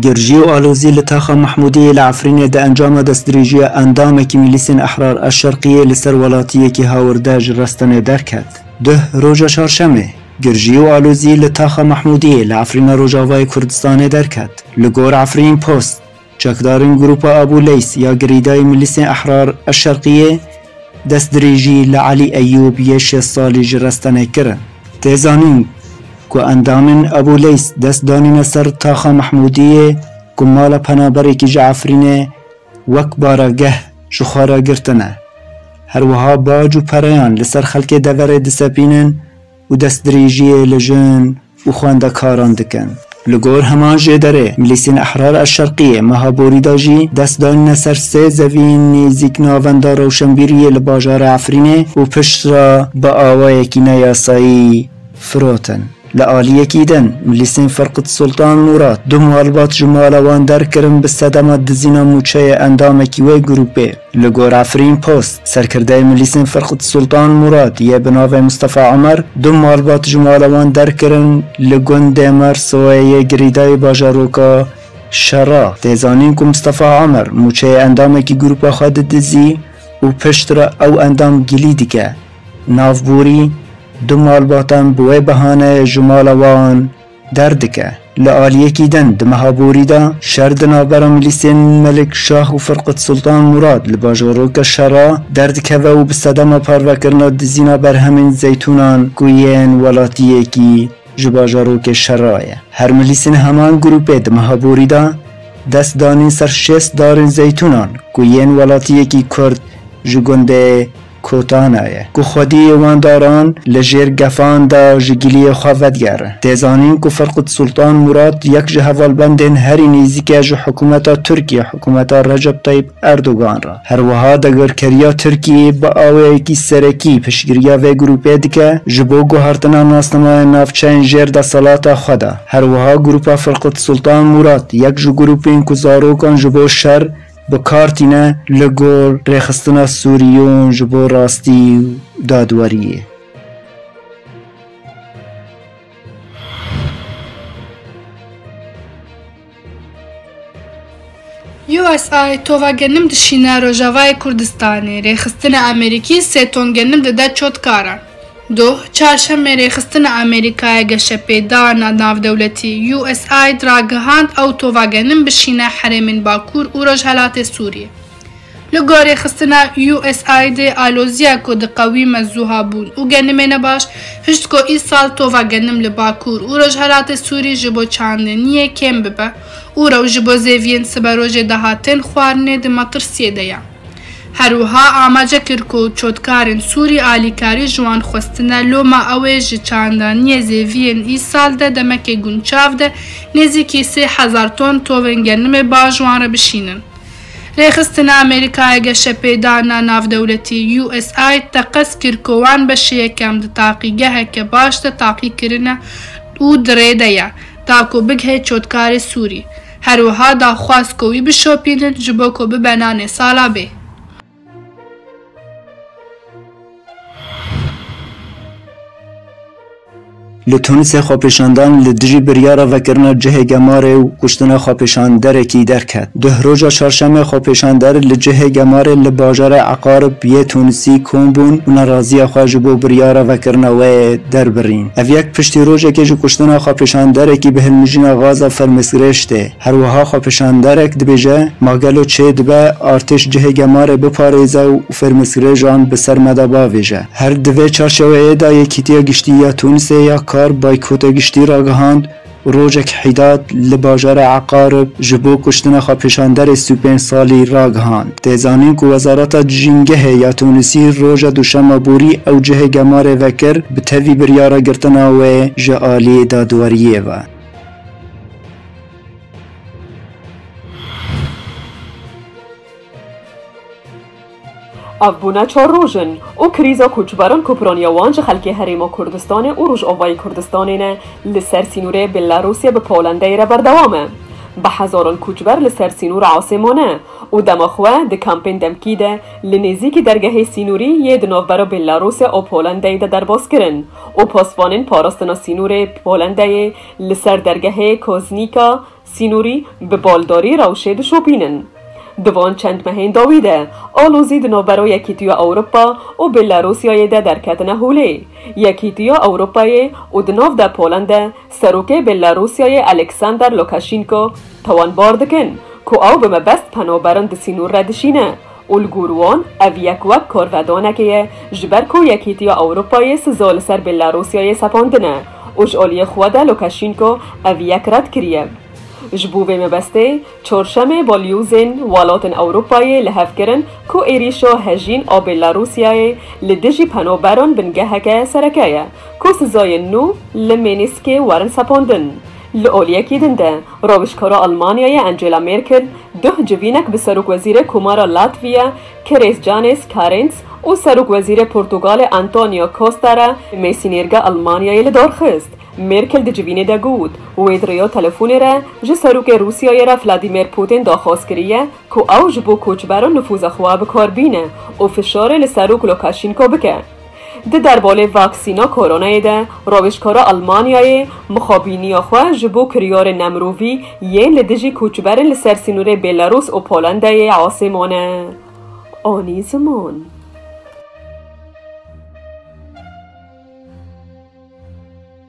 Girjî û alozî li taxa Mehmûdiyê li Efrînê di encama destdirêjiya endamekî Milîsên Ehrar a Şerqiyê li ser welatiyekî hawirde ji restenê derket. Duh roja Çarşemê, girjî û alozî li taxa Mehmûdiyê li Efrîna Rojavayê Kurdistanê derket. Li gor Efrîn Post. Çekdarên grûpa Abû Leys ya girîdayî Milîsên Ehrar a Şerqiyê destdirêjî li Elî Eyûb yê şêst salî ji Restenê kirin. Tê zanîn ku endamên Abû Leys dest danîne ser Taxa Mehmûdiyê ku mala penaberekî ji Efrînê wek baregeh ji xwe re girtine. Her wiha bac û pereyan li ser xelkê deverê disepînin, û destdirêjiyê li jin û xwendekaran dikin. Li gor heman jê derê, Milîsên Ehrar El Şerqîyê meha borî de jî dest danîne ser sê zeviyên nêzîk Navenda Rewşenbîriyê li bajarê Efrînê û piştre bi awayekî ne yasayî firotin. Li aliyekî din, Milîsên Ferqût Sultan Mûrat du malbat ji mala wan derkirin bi sedema dizîna mûçeyê endamekî wê grûpê. Li gor Efrîn Post. Serkirdeyê Milîsên Firqt Sultan Murad yê bi navê Mustafa Omer du malbat ji mala wan derkirin li gundê Mersoyê yê girîdayî bajaroka Şera. Tê zanîn ku Mustafa Omer mûçeyê endamekî grûpa xwe didizî û piştre ew endam gilî dike. Navborî, du malbatan bi wê behaneyê ji mala wan Derdike, li aliyekî din di meha borî de şer di navbera milîsên Melik Şah û Firqut Sultan Murad li bajarokê Şera derdikeve û bi sedema parvekirina dizîna berhemên zeytûnan ku yên welatiyekî ji bajarokê Şera ye. Her milîsên heman grûpê di meha borî de dest danîn ser şêst darên zeytûnan ku yên welatiyekî Kurd ji gundê Kotana ye ku xwediyê wan daran li jêr gefan de ji giliyê xwe vedigere. Tê zanîn ku Ferqûd Sultan Mûrad yek ji hevalbendên herî nêzîk e ji hikûmeta Tirkiyê, hikûmeta Recep Tayîp Erdogan re. Her wiha dagirkeriya Tirkiyê bi awayekî serekî piştgiriya vê grûpê dike ji bo guhertina nasnameya navçeyên jêr desthilata xwe de. Her wiha grûpa Ferqûd Sultan Mûrad yek ji grûpên ku zarokan ji bo şer, Bi kar tîne li gor rêxistina Sûriyon ji bo rastî û dadweriyê. USA yê tova genim dişîne Rojavayê Kurdistanê, rêxistina Amerîkî sê ton genim dide çotkaran. Doh, Çarşemê rêxistina Amerîkayê geşepêdana navdewletî, USAID, ragihand ew tovagenin bişîne herêmên Bakur û Rojhelatê Sûriyê. Li gor rêxistina USAID'ê aloziya ku diqewîme zuha bûn û genimê ne baş, hişt ku îsal tovagenim li Bakur û Rojhelatê Sûrî ji bo çandiniyê kêm bibe û rew ji bo zêviyên siberojê dahatên xwarinê di metirsiyê de ye. Her wiha amace kir ku çotkarên Sûrî alîkarî ji wan xwestine loma ew ê ji çandaniyê zêviyên îsal de demekê gunçav de nêzîkî sê hezar ton tovên genimê ba ji wan re bişînin. Rêxistina Amerîkaya Geşepêdana Navdewletî, USAID, teqez kir ku wan beşê yekem di taqîgeheke baş de taqî kirine û di rê de ye ta ku bigihê çotkarê Sûrî. Her wiha da xwest ku wî bişopînin ji bo ku bibe nanê sala bê. Li Tûnisê xwepêşandan li dijî biryara vekirina cihê gemarê û kuştina xwepêşanderekî derket. Duh roja çarşemê xwepêşander li cihê gemarê li bajarê Eqarb yê Tûnisî kom bûn û neraziya xwe ji bo biryara vekirina wê derbirîn. Ev yek piştî rojekê ji kuştina xwepêşanderekî bi hilmijîna gaza fermestgirê şitê. Her wiha xwepêşanderek dibêje, Ma gelo çê dibe artêş cihê gemarê biparêze û fermestgirêjan bi ser me de bavêje? Her di vê çarçeweyê de Yekîtiya Giştî ya Tûnisê ya Kar boykota giştî ragihand, Rojek Hîdat li bajara Eqarib ji bo kuştina xwepêşanderê Sî û pênc salî ragihand. Tê zanîn ku Wezareta Cîngehê ya Tûnisî roja duşema borî ew cihê gemarê vekir bi tevî biryara girtina wê ji aliyê dadweriyê ve. Ev bûne çar roj in û krîza koçberan ku piraniya wan ji xelkê Herêma Kurdistanê û Rojavayê Kurdistanê ne li ser sînorê Bêlarûsê bi Polandayê re berdewam e. Bi hezaran koçber li ser sînor asê mane û dema xwe di kampên demkî de li nêzîkî dergehê sînorî yê di navbera Bêlarûsê û Polandayê de derbas kirin û pasvanên parastina sînorê Polandayê li ser dergehê Koznîka Sînorî bi baldarî rewşê dişopînin. Di van çend mehên dawî de alozî di navbera Yekîtiya Ewropa û Belarusyayê de derketine holê. Yekîtiya Ewropayê û di nav de Polende Serokê Belarusyayê Alexander Lukashenko tawanbar dikin ku ew bi mebest penaberin di sînor re dişîne û li gor wan ev yek wek karvedanekê ye ji ber ku Yekîtiya Ewropayê siza li ser Belarusyayê sepandine û ji aliyê xwe de Lukaşînko ev yek red kiriye. Ji bo vê mebestê Çarşemê balyozên welatên Ewropayê li hev kirin ku êrîşa hejîn a Belarusyayê li dijî penaberan bingeheke sereke ye ku sizayên nû li Mînîskê werin sepandin. Li oliyekî din de Rojkara Elmanyayê Angela Merkel duh civînek bi Serokwezîrê Komara Latviya Keres Janis Karins û Serokwezîrê Portugalê Antonio Costa re Mêsînêrga Elmanyayê li dar xist. Merkel di civînê de got, Wê di rêya telefonê re ji Serokê Rûsyayê re Vladimir Putin daxwaz kiriye ku ew ji bo koçberan nifûza xwe bi kar bîne û fişarê li Serok Lukaşînko bike. Di derbolê vaksîna koronayê de rojkara Elmanyayê mixabîniya xwe ji bo kiryarên nemirovî yên li dijî koçberên li ser sînorê Bêlarûs û Polandayê asê mane. Anî ziman.